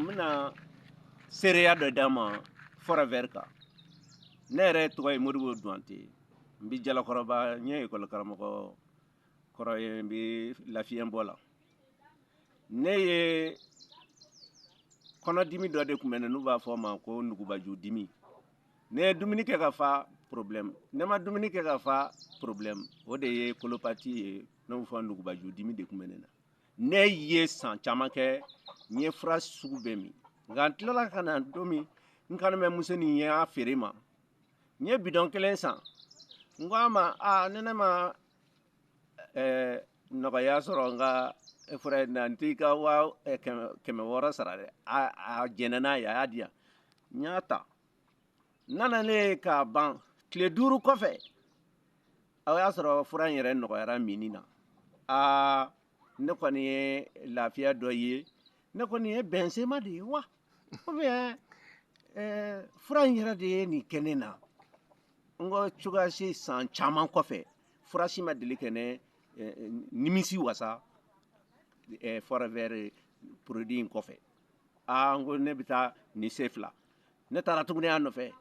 bɛna seereya dɔ d'a ma fɔrɛvɛri kan ne yɛrɛ tɔgɔ ye modibo duwante n bɛ jalakɔrɔba n ye ekɔli karamɔgɔ kɔrɔ ye n bɛ lafiyɛnbɔ la ne ye kɔnɔdimi dɔ de tun bɛ ne n'u b'a fɔ o ma ko nugubaju dimi ne ye dumuni kɛ ka fa problème ne ma dumuni kɛ ka fa problème o de ye kolopati ye n'u b'o fɔ nugubaju dimi de tun bɛ ne na ne ye san caman kɛ n ye fura sugu bɛɛ min nka n tilala ka na don min n kanimɛ muso nin ye a feere n ma n ye bidɔn kelen san n ko a ma a ni ne ma eh, nɔgɔya sɔrɔ n ka fura in na n t'i ka wa eh, kɛmɛ wɔɔrɔ sara dɛ a jɛnna n'a ye a y'a di yan n y'a ta nana ne k'a ban tile duuru kɔfɛ o y'a sɔrɔ fura in yɛrɛ nɔgɔyara minni na aa ne kɔni ye lafiya dɔ ye ne kɔni ye bɛnsema de ye wa ou bien eh, fura in yɛrɛ de ye nin kɛ ne na n ko cogoya si san caman kɔfɛ fura si ma deli ka ne eh, nimisi wasa eh, fɔrɛvɛri produit in kɔfɛ aa n ko ne bɛ taa nin sen fila ne taara tuguni a nɔfɛ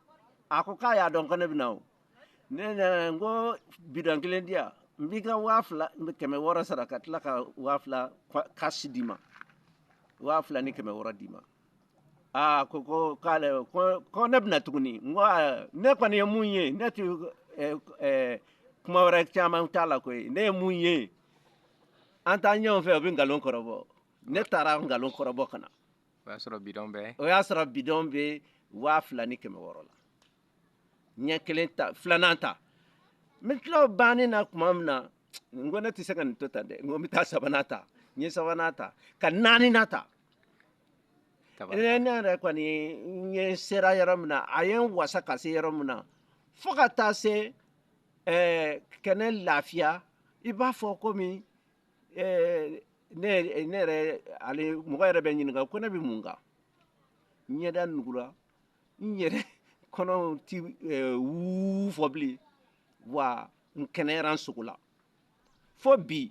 a ko k'a y'a dɔn ko ne bɛ na o ne nana n ko bidɔn kelen di yan n b'i ka waa fila ni kɛmɛ wɔɔrɔ sara ka tila ka waa fila kasi d'i ma waa fila ni kɛmɛ wɔɔrɔ d'i ma aa ko ko k'ale ko ko ne bɛna tuguni n ko aa, ne kɔni ye min ye ne tɛ eh, eh, kuma wɛrɛ caman t'a la koyi ne ye min ye an taa ɲɔgɔn fɛ o bɛ nkalon kɔrɔbɔ ne taara nkalon kɔrɔbɔ ka na o y'a sɔrɔ bidɔn bɛ o y'a sɔrɔ bidɔn bɛ waa fila ni kɛmɛ wɔɔrɔ la n ye kelen ta filanan ta n bɛ tila o banni na tuma min na n ko ne tɛ se ka nin to tan dɛ n ko n bɛ taa sabanan ta n ye sabanan ta ka naaninan ta ne ne yɛrɛ kɔni n ye sera yɔrɔ min na a ye n wasa ka se yɔrɔ min na fo ka taa se ɛɛ ka ne lafiya i b'a fɔ komi eh, ne eh, ne yɛrɛ hali mɔgɔ yɛrɛ bɛ n ɲininka ko ne bɛ mun kan n ɲɛda nugura n yɛrɛ kɔnɔ tɛ eh, wuu fɔ bilen wa n kɛnɛyara n sogo la fo bi